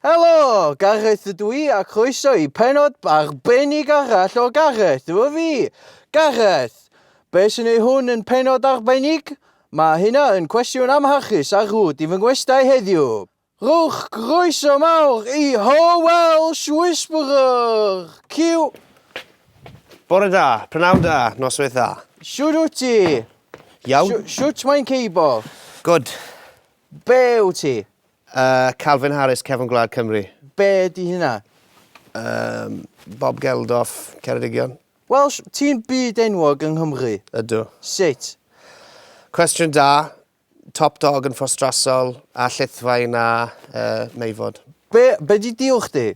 Helo! Gareth ydw i a croeso i penod arbennig arall o Gareth, efo fi! Gareth! Be sy'n ei hwn yn penod arbennig? Mae hynna yn cwestiwn amharchus ar rwt i fy ngwestai heddiw. Rhowch groeso mawr i Ho Welsh Whisperer! Cyw! Bore da, prynawn da, noswaith dda. Shwt wyt ti? Iawn. Shwt mae'n ceibo? Good. Be wyt ti? Yy Calvin Harris, Cefn Gwlad Cymru. Be ydi hynna? Yym Bob Geldof, Ceredigion. Welsh, ti'n byd enwog yng Nghymru. Ydw. Sut? Cwestiwn da. Top dog yn ffostrasol a llithfaen a yy meifod. Be be di deal chdi?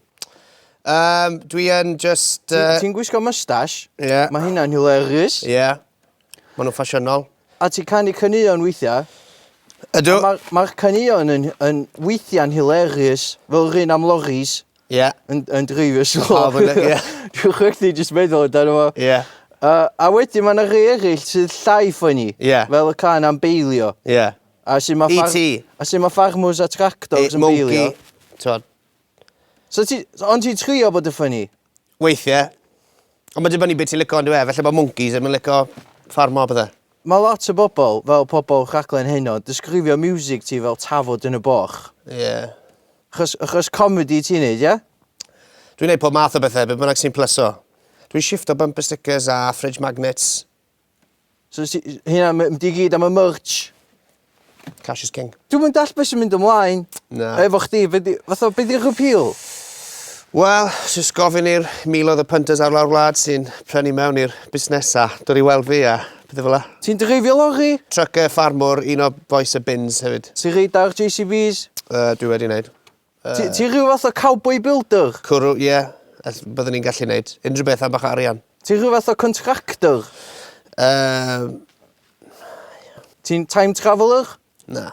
Yym dwi yn jyst yy... Ti'n gwisgo mustache? Ie. Ma hynna'n hilarious. Ie. Maen nhw'n ffasiynol. A ti'n canu caneuon weithiau? Ydw. Mae'r ma caneuon yn, yn weithiau'n hilarious, fel yr un am loris. Ie. Yeah. Yn, yn dreifio sy'n lor. Pawb yn, ie. Dwi'n chwechdi jyst meddwl dan yma. Ie. Yeah. Uh, a wedyn mae yna rhai eraill sydd llai ffynnu. Ie. Yeah. Fel y can am beilio. Ie. Yeah. A sy'n mae... E ti. A sy'n mae farmwrs a tractors yn beilio. Mogi. Tod. So ti... Ond ti'n trio bod yn funny? Weithie. Ond ma'n dibynnu be' ti'n lico on'd yw e? Falle bo' mwncis ddim yn lico ffarmo a pethe. Mae lot o bobl, fel pobl rhaglen heno, disgrifio miwsig ti fel tafod yn y boch. Ie. Achos achos comedi ti'n neud ie? Dwi'n neud pob math o bethe, be' bynnag sy'n plyso. Dwi'n shiffto bumper stickers a fridge magnets. So nes i... Hynna ma- mynd i gyd am y merch. Cash is king. Dwi'm yn dall' be' sy'n mynd ymlaen... Na. ...efo chdi be' 'di fatha be' 'di'r appeal? Wel, jyst gofyn i'r miloedd o punters ar lawr wlad sy'n prynu mewn i'r busnesa dod i weld fi a pethe fel 'a. Ti'n dreifio lorri? Trucker, ffarmwr, un o bois y bins hefyd. Ti reit da ar JCVs? Yy dwi wedi neud. Ti, ti rhyw fath o cowboy builder? Cwrw, ie. Yeah. Byddwn ni'n gallu neud unrhyw beth am bach o arian. Ti rhyw fath o contractor? Uh, Ti'n time traveller? Na.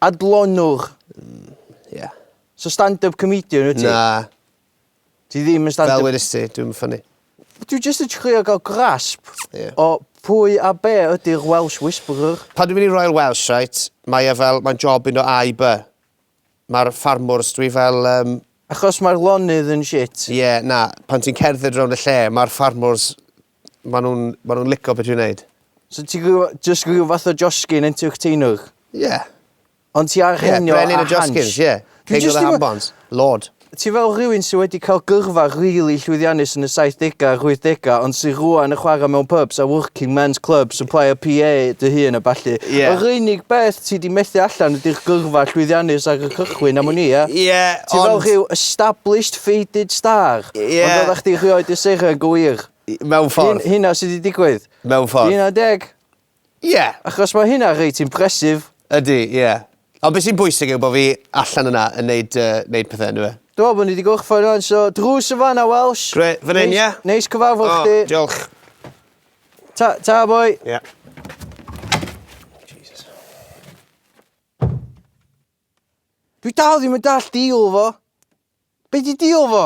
Adlonwr? Mm, ie. Yeah. So stand-up comedian wyt ti? Na. Ti ddim yn stand-up... Fel wedys ti, dwi'n ffynnu. Dwi'n just yn trio gael grasp yeah. o pwy a be ydy'r Welsh Whisperer. Pan dwi'n mynd i Royal Welsh, right, mae e fel, mae'n job un o A i B. Mae'r ffarmwrs, dwi fel um... Achos mae'r lonydd yn shit? Ie, yeah, na, pan ti'n cerdded rownd y lle, mae'r ffarmwrs, maen nhw'n ma nhw lico beth dwi'n neud. So ti just rhyw fath o josgyn entertainer? Ie. Yeah. Ond ti ar yeah, henio a hansh? Ie, brenin y josgyns, ie. Yeah. King of the hambons, lord. Ti fel rhywun sy wedi cael gyrfa rili llwyddiannus yn y saithdegau a'r wythdegau ond sy rŵan yn chwarae mewn pubs a working men's clubs yn plaio PA dy hun a ballu. Ie. Yr unig beth ti 'di methu allan ydi'r gyrfa llwyddiannus ar y cychwyn am wn i, ie? Ie, ond... Ti fel rhyw established faded star. Ie. Ond oeddach chdi rhioed yn seren go wir. Mewn ffordd. Hyn- hynna sy 'di digwydd. Mewn ffordd. Hynna'n deg. Ie, achos mae hynna reit impressive. Ydy, ie. Ond be sy'n bwysig yw bod fi allan yna yn neud yy neud pethe yndyw e? Dw i'n meddwl bod ni 'di gorffan rwan so drws yn fan'na Welsh. Grêt, fan 'yn ie? Neis neis cyfarfod chdi. O diolch. Ta ta boi. Ie. Jesus. Dwi dal ddim yn dallt deal fo. Be' 'di deal fo?